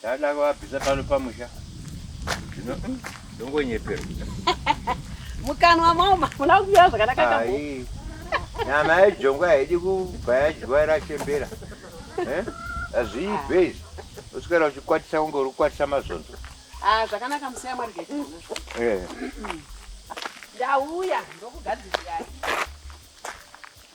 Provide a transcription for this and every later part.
Ndada kuvabvisa pano pamusha. Zvino hmm, ndongonyepera. Mukanwa mama, muna kuya zvakanaka kambo. Nyama yejongwa haidi kubva yadyiwa irachembera. Eh? Azviibve izvi. Uswera uchikwatisa kunge uri kukwatisa mazonzo. Ah, zvakanaka musiya mari gete. Eh. Ndauya ndokugadzirirai.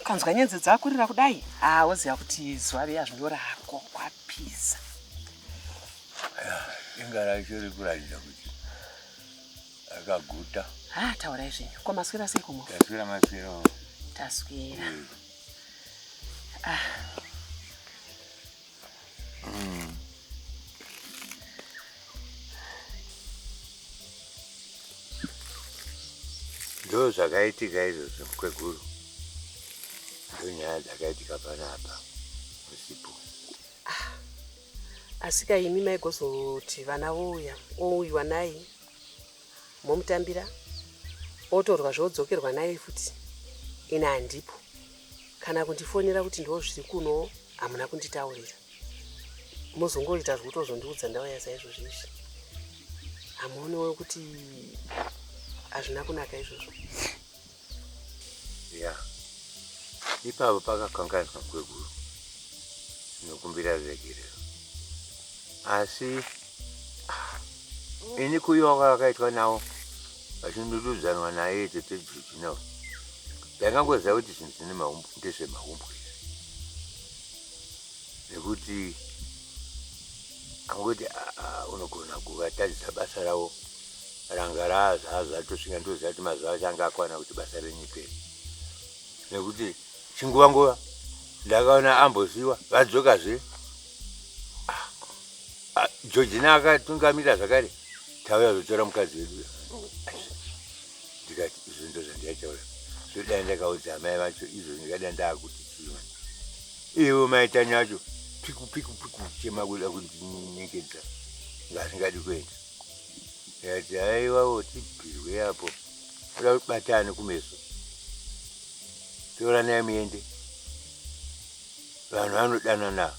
ukanzwa nyenze dzakurira kudai haa woziva kuti zuva riya zvinorako kwapi Peace. Inga racho riri kuratidza kuti akaguta. Ah, taurai zvenyu. Ko maswera sei kumwe? Taswera maswera. Taswera. Mm. Ah. Mm. ndo zvakaitika izvozvo mukweguru ndo nyaya dzakaitika panapa usipo ah, asika imi maigozoti vana vouya ouyiwa naye momutambira otorwa zvodzokerwa naye futi ina handipo kana kundifonera kuti ndozviri kuno hamuna kunditaurira mozongoita zvekutozondiudza ndauya saizvozvi izvi hamuonewo kuti hazvina kunaka izvozvo ya ipapo pakakangaiswa kweguru nokumbira regerero asi ah, ini kuyiwa kwavakaitwa nawo vachindududzanwa naye tete juji nawo ndangangoziva kuti zvinhu zvine maumbu ndezvemaumbu nekuti angoti ah, ah, unogona kuvatadzisa basa ravo ranga raa zvaazvatosvika ndozati mazuva acho anga akwana kuti basa renyiperi nekuti chinguva nguva ndakaona ambosiwa vadzoka zve ah, ah, georgina akatungamira zvakare tauya zvotora mukadzi wedu ndikati izvo ndo zvandiaitaura zvoda ndakaudza amai vacho izvo ndikada ndaakuti chima ivo maitani acho piku piku piku chema kuda kundinyenyekedza ngasingadi kuenda ndikati haiwawo tibirwe apo oda kubatana kumeso toranai muende vanhu vanodana navo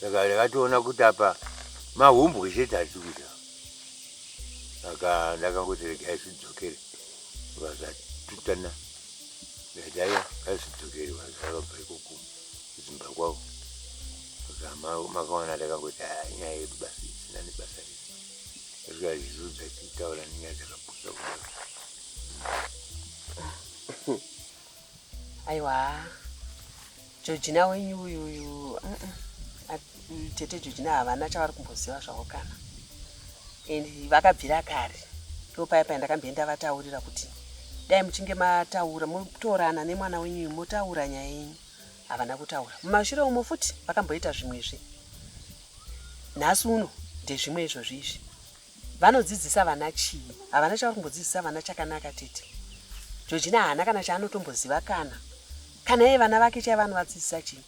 saka ndakatoona kuti apa mahumbwe chete atikuita aka ndakangoti regai zvidzokere vazatutana vedaya kazvidzokere vazavabva ikoko kudzimba kwavo makawana ndakangoti ah, nyaya yedu basi isina nebasa rese asvika zvizudzo achitaura nenyaya dzakapusa kudaro aiwa jojina wenyu uyu uyu tete jojina havana chavari kumboziva zvavo kana and vakabvira kare ndopaya paya ndakamboenda vataurira kuti dai muchinge mataura motorana nemwana wenyu uyu motaura nyaya yenyu havana kutaura mumashure umo futi vakamboita zvimwezve nhasi uno ndezvimwe izvozvi izvi Vanodzidzisa vana chii? Havana chavari kumbodzidzisa vana chakanaka tete. Georgina haana kana chaanotomboziva kana kana iye vana vake chaiva anovadzidzisa chii?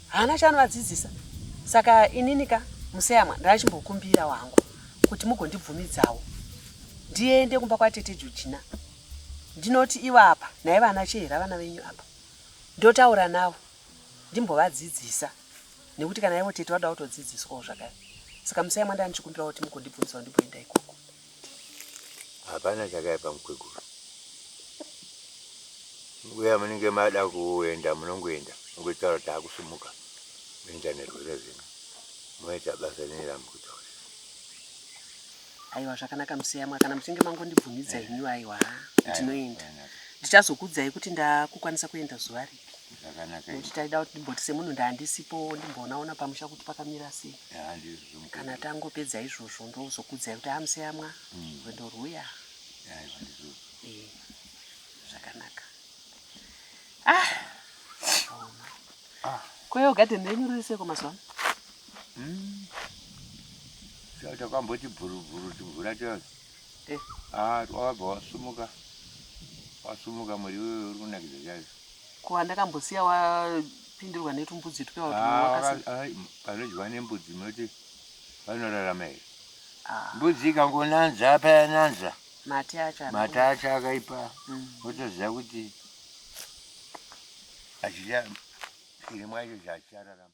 Haana chaanovadzidzisa. Saka inini ka museyamwa ndakachimbokumbira wangu kuti mugondibvumidzawo ndiende kumba kwatete Georgina. Ndinoti ivo apa naiva ana Chihera vana venyu apa. Ndotaura navo ndimbovadzidzisa nekuti kana ivo tete vada kutodzidziswawo zvakare saka musai mwanda ndichikumbira kuti mukondibvunzisawo ndimboenda ikoko hapana chakaipa mukweguru uya munenge mada kuenda munongoenda mungotaura kuti akusumuka muenda nerwere zvino moita basa rine ramukutaura aiwa zvakanaka museyamwa kana muchinge mangondibvumidza imi aiwa ndinoenda ndichazokuudzai kuti ndakukwanisa kuenda zuva ri nekuti taida kuti ndimboti semunhu ndaandisipo ndimboonaona pamusha kuti pakamira sei kana tangopedza izvozvo ndozokudzai kuti amuseyamwa hmm. rwendo rwuya zvakanaka ah! ah. kweyo gadheni renyu riri seko mazuva ano hmm. takamboti bhurubhuru timvura tose Eh, ah, wabva wasumuka. Wasumuka muri wewe uri kunakidza chaizvo. Ko andakambosiya wapindirwa netumbudzi twe wakatumwakasa. Ah, ah, panodyiwa nembudzi munoti vanorarama here? Ah. Mbudzi ikangonanza apa yananza. Mate acho. Mate acho akaipa. Mm. Wotoziva kuti achida iri mwacho zvachararama.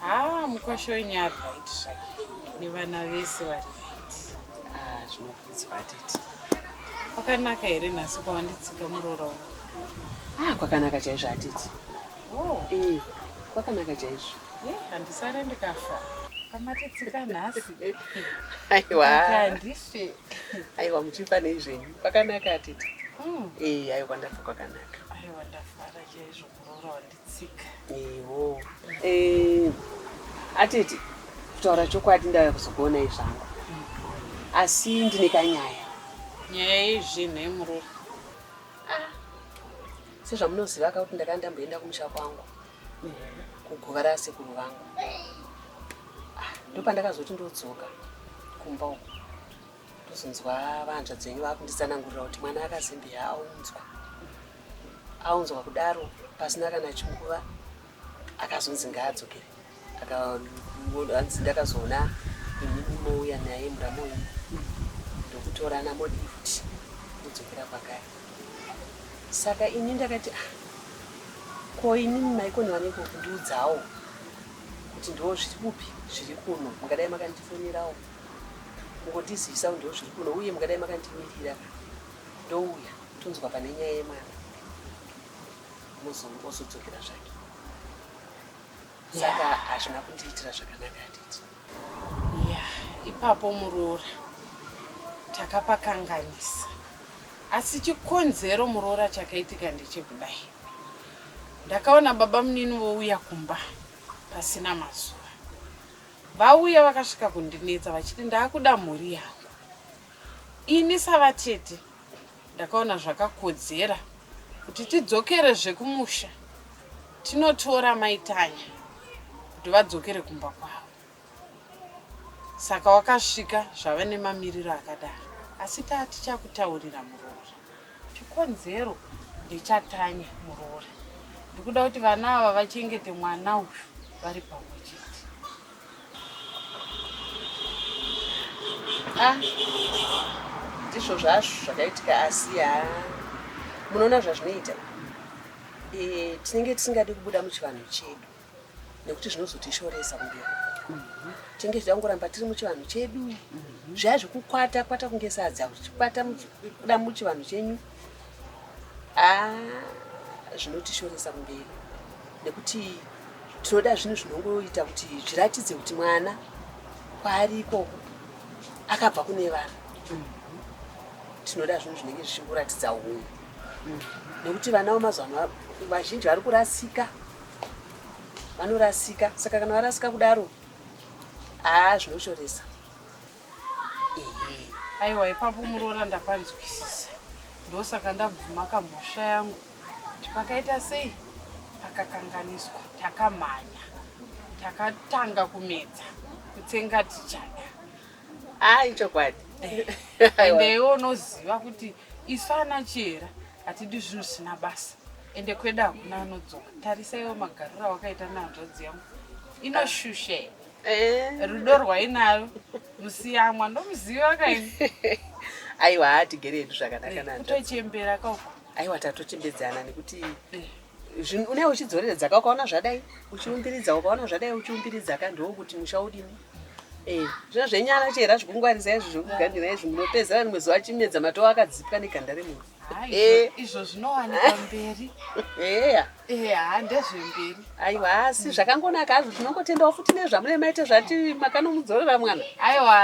Haa mukwasha wenyu ari right nevana vese vari right. Ah, zvinokudzwa tete. Kwakanaka here nhasi kwawanditsika muroora uno? Ah, kwakanaka chaizvo atete. Oh, Eh, kwakanaka chaizvo. ye handisare ndikafa. Pamatitsika nhasi. Aiwa. Handife. Aiwa muchifa nei zvenyu. Kwakanaka atete. Mm. Eh, aiwa ndafa kwakanaka. Aiwa ndafara chaizvo muroora wanditsika. tsika ewo eh, atete kutaura chokwadi ndauya kuzokuonai zvangu asi ndine kanyaya nyaya yezvinhu yemuroyi ah, sezvamunoziva ka kuti ndakanga ndamboenda kumusha kwangu kuguva rasekuru vangu ah, ndopandakazoti ndodzoka kumba uku ndozonzwa vahanzvadzi venyu vakunditsanangurira kuti mwana akazimbi aunzwa aunzwa kudaro pasina kana chinguva akazonzi ngaadzokere anzi ndakazoona ini mouya naye muramoyi ndokutorana modi futi kudzokera kwagari saka ini ndakati ah, ko ini maikoni vanenge kundiudzawo kuti ndo zviri kupi zviri kuno mungadai makandifonerawo kungotizivisa kuti ndozviri kuno uye mungadai makandimirira ndouya tonzwa pane nyaya yemwana ozodzokera zvake saka hazvina kundiitira zvakanaka atiti ya ipapo muroora takapakanganisa asi chikonzero muroora chakaitika ndechekudai ndakaona baba munini vouya kumba pasina mazuva Vauya vakasvika kundinetsa vachiti ndaakuda mhuri yangu. Ini savatete ndakaona zvakakodzera kuti tidzokere zvekumusha tinotora maitanya kuti vadzokere kumba kwavo. Saka wakasvika zvava nemamiriro akadaro asi taa tichakutaurira muroora. Chikonzero ndechatanya muroora. Ndikuda kuti vana ava vachengete mwana uyu vari pamwe chete. Ah, ndizvo zvazvo zvakaitika asi ya munoona zvazvinoita. Eh, tinenge tisingadi kubuda muchivanhu chedu. nekuti zvinozotishoresa kumberi tinge tichangoramba tiri muchivanhu chedu mhm. zvaya zvekukwata kwata kunge sadza uchikwata kuda muchivanhu chenyu ah, zvinotishoresa kumberi nekuti tinoda zvinhu zvinongoita kuti zviratidze kuti mwana kwaari ikoko akabva kune vanhu mhm. tinoda zvinhu zvinenge zvichikuratidza unhu mhm. nekuti vana vemazuva ano vazhinji vari kurasika vanorasika saka kana varasika kudaro haa zvinoshoresa aiwa ipapo muroora ndapanzwisisa ndosaka ndabvuma kamhosva yangu kuti pakaita sei pakakanganiswa takamhanya takatanga kumedza kutsenga tichada ai chokwadi eh. ende iwe unoziva kuti isu ana chera Hatidi zvinhu zvisina basa ende kweda hakuna anodzoka. Tarisaiwo magariro awakaita nehanzvadzi yangu inoshushe eh. rudo rwainayo musiyamwa ndomuziva kaini aiwa hatigere hedu zvakanaka eh, kutochembera kauko aiwa tatochembedzana nekuti eh. une uchidzoreredzaka ukaona zvadai uchiumbiridza ukaona zvadai uchiumbiridzaka ndoo kuti musha udini eh, zvino zvenyara chera zvekungwarisa izvi zvekuganira izvi munopedzera rimwe zuva chimedza matoo akadzipwa neganda remunhu eh. izvo zvinowanikwa mberi eya eh, haa ndezvemberi aiwa hasi zvakangonaka hazvo tinongotendawo futi nezvamune maite zvati makanomudzorera mwana aiwa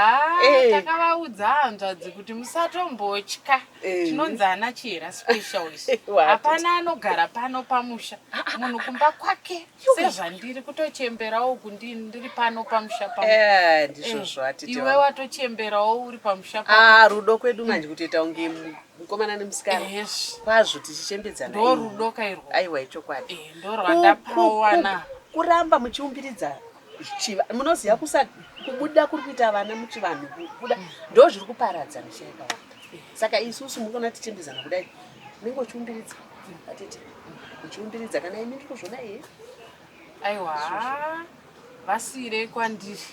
takavaudza hanzvadzi kuti musatombotya Eh. tinonzi ana chihera special isu hapana anogara pano pamusha munhu kumba kwake sezvandiri kutochemberawo kundi ndiri pano pamusha paiwe eh, watochemberawo uri pamusha ah, rudo kwedu manje kutoita kunge mukomana nemusikana kwazvo tichichembedzana ndo rudo kairwo aiwa ichokwadi eh, ndo rwandapawana kuramba muchiumbiridza chiva munoziva kusa kubuda kuri kuita vana muchivanhu kubuda ndo zviri kuparadza misha yakawanda saka isusu mukaona tichimbizana kudai unenge uchiumbiridza atete uchiumbiridza kana imi ndiri kuzvona iye aiwa vasiirei kwandiri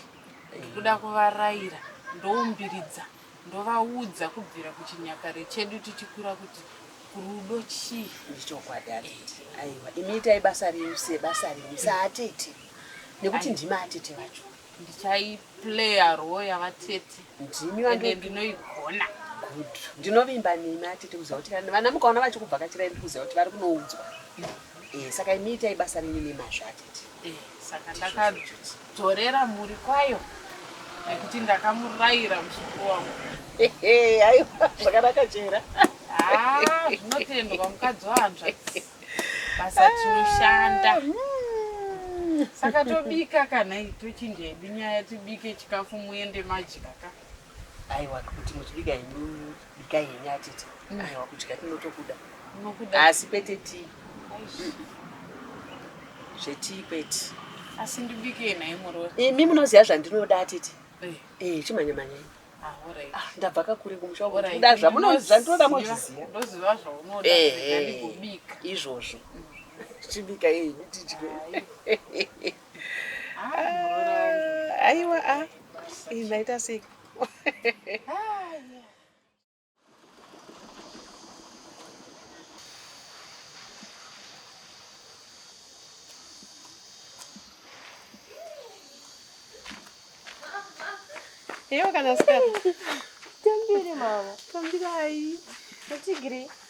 kuda kuvaraira ndoumbiridza Ndovaudza kubvira kuchinyakare chedu tichikura kuti rudo chii. Ndichokwadi atete. Aiwa, imi itai basa renyu sebasa renyu saatete. Nekuti ndimi atete vacho. Ndichaiplaya role yavatete. Ndimi vandu. Ende ndinoigona. Good. Ndinovimba nemi atete kuziva kuti kana vana mukaona vachikubvakachira imi kuziva kuti vari kunoudzwa. Eh, saka imi itai basa renyu nemazvo atete. Eh, saka ndakadzviti. Dzorera mhuri kwayo nekuti ndakamurayira muzukuru wangu. Aiwa zvakanaka chera. Ah, zvinotendwa mukadzi wanzva. Basa tinoshanda. Ah, hmm. Saka tobika kana tochinja hedu nyaya tibike chikafu muende majika ka. Aiwa kuti muchibika henyu bikai henyu atete. Mm. Aiwa kudya tinotokuda. Munokuda. Asi kwete tii. Zvetii kwete. Asi ndibike nhai muroyi. Imi munoziva zvandinoda atete. Eh, eh chimhanya mhanya. Ah, alright. Ah, ndabva kakure kumusha. Alright. Kuda zvamunoda zvandinoda mozviziva. Ndoziva zvaunoda. Eh, eh. Ndikubika. Izvozvo. Mm. Chibika henyu tidye. Ah, aiwa a ah. ingaita sei Eu, Canasca. Tambire, mama. Tambire aí. Não te grito.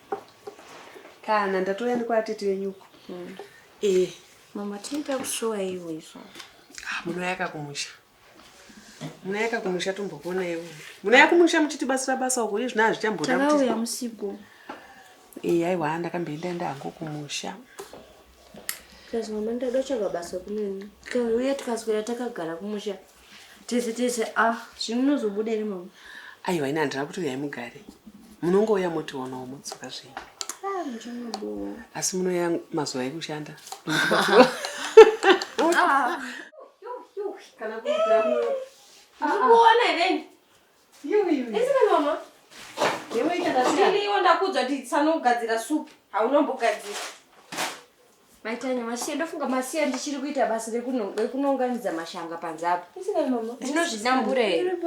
Kana ndatouya ndikwatete wenyu uko. Mm. Eh. Mama tinoita kushowa ivo izvo. Ah, munoyaka kumusha. Munoyaka kumusha tombokona ivo. Munoyaka kumusha muchitibatsira basa uko izvi zvina hazvichamboda kuti. Takauya musiku. Eh, aiwa ndakamboenda enda hangu kumusha. Kazi mama ndada kutsvaga basa kunini. Kauya tikaswera takagara kumusha. tese tese ah zvino unozobuda iri mama aiwa ini handina kutouya mugare munongouya motionawo motsoka zvenyu ah, asi munouya mazuva ekushanda ah. kana kuona then iwe ndakudza kuti sanogadzira supu haunombogadzira Maitanya masiye ndofunga masiya ndichiri kuita basa rekunounganidza mashanga panze apa. Ndinozvidambura here?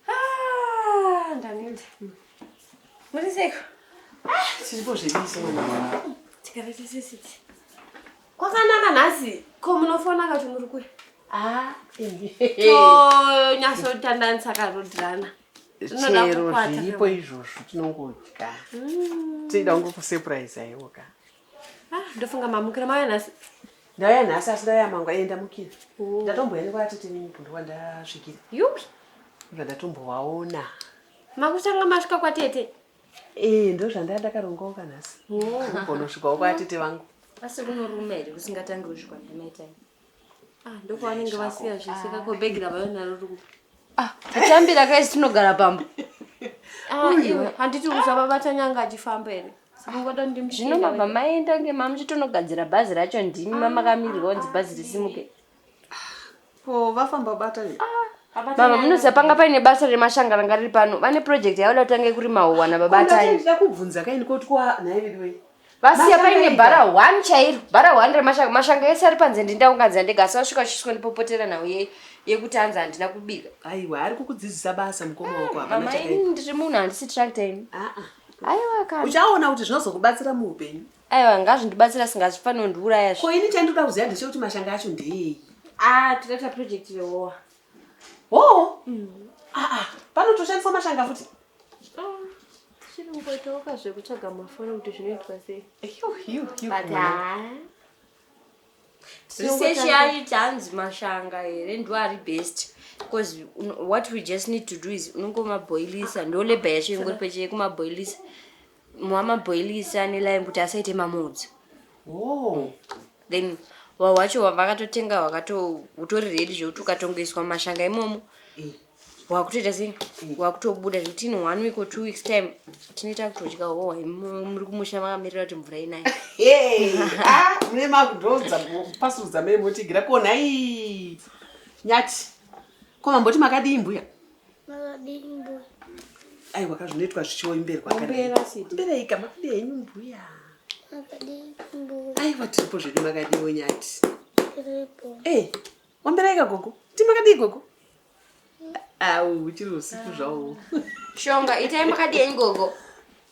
Ah, ndaneta. Muri seiko? Ah, tiripo zvediso. Tikavete sesiti. Kwakanaka nhasi. Ko munofona kati muri kuya? Ah, tonyasotandanisa karodirana. chero zviripo izvozvo tinongodya mm. tichida kunge kusurprise aiwo ka ah, ndofunga mamukira mauya nhasi ndauya nhasi asi ndauya mangu aye ndamukira oh. ndatomboya nekwaatete nemibhuri wandasvikira yupi bva ndatombovaona makutanga masvika kwatete ee eh, ndo zvandaya ndakarongawo ka nhasi oh. kugonosvikawo kwatete vangu asi kunorume here kusingatangi kuzvikwa ndamaitai Ah, ndokwavanenge vasiya zvese kakobhegi ravayo naro rikupi ah, tatambira kaisi tinogara pamba ah, iwe handiti uzavabata nyanga achifamba here zvino mabva maenda ngema muchitonogadzira bhazi racho ndimi mamakamirwa onzi bhazi risimuke ko vafamba bata mama munoziva panga paine basa remashanga ranga riri pano vane project yavoda kutange kurima huwana babataiakubvunza kaini koti kwanhaividiwe vasiya paine bhara one chairo bhara one remashanga mashanga ese ari panze ndindaunganzira ndega asi vasvika vachisvika ndipopotera nhau ye yekuti anzi handina kubika aiwa ari kukudzidzisa basa mukoma wako hapana mama chakaipa. ini ndiri munhu handisi tractor ini Ah, ah. aiwa kana uchaona kuti zvinozokubatsira muupenyu aiwa ngazvindibatsira singazvifanondiuraya zve ko ini chandinoda kuziva ndechekuti mashanga acho ndeei ah takaita project rehowa hoo aa panotoshandiswa mashanga futi chiri kungoitauka zvekutsvaga mafoni kuti zvinoitwa sei but haa research yaita hanzi mashanga here ndo ari best because what we just need to do is unongomaboilisa ndo labor yacho ingori pecheye kumaboilisa wamabhoilisa nelime kuti asaite mamodzo oh. then hwahwa hwacho vakatotenga hwakatohutori redi zvekuti ukatongoiswa mashanga imomo eh. hwakutoita sei eh. hwakutobuda zvekuti in one week or two weeks time tinoita kutodya hwohwa muri kumusha makamirira kuti mvura inai ah, mune makudhodza pasudza memotigira konhai nyati ko mamboti makadii mbuya aiwa ka zvinoitwa zvichioimberi kwakambereika makadi henyu mbuya aiwa tiripo zvedu makadiwo nyati eh, wambereika gogo ti makadii gogo au chiri usiku zvawo shonga itai makadii henyu gogo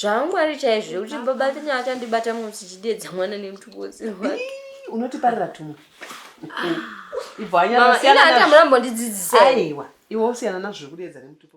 zvaangwari chaizvo zvekuti baba tanya achandibata munhu tichideedza mwana nemutupo usiri wake unotiparira tumwe ibvanyaaata murambondidzidzisa aiwa iwe usiyana nazvo zvekudeedza nemutupo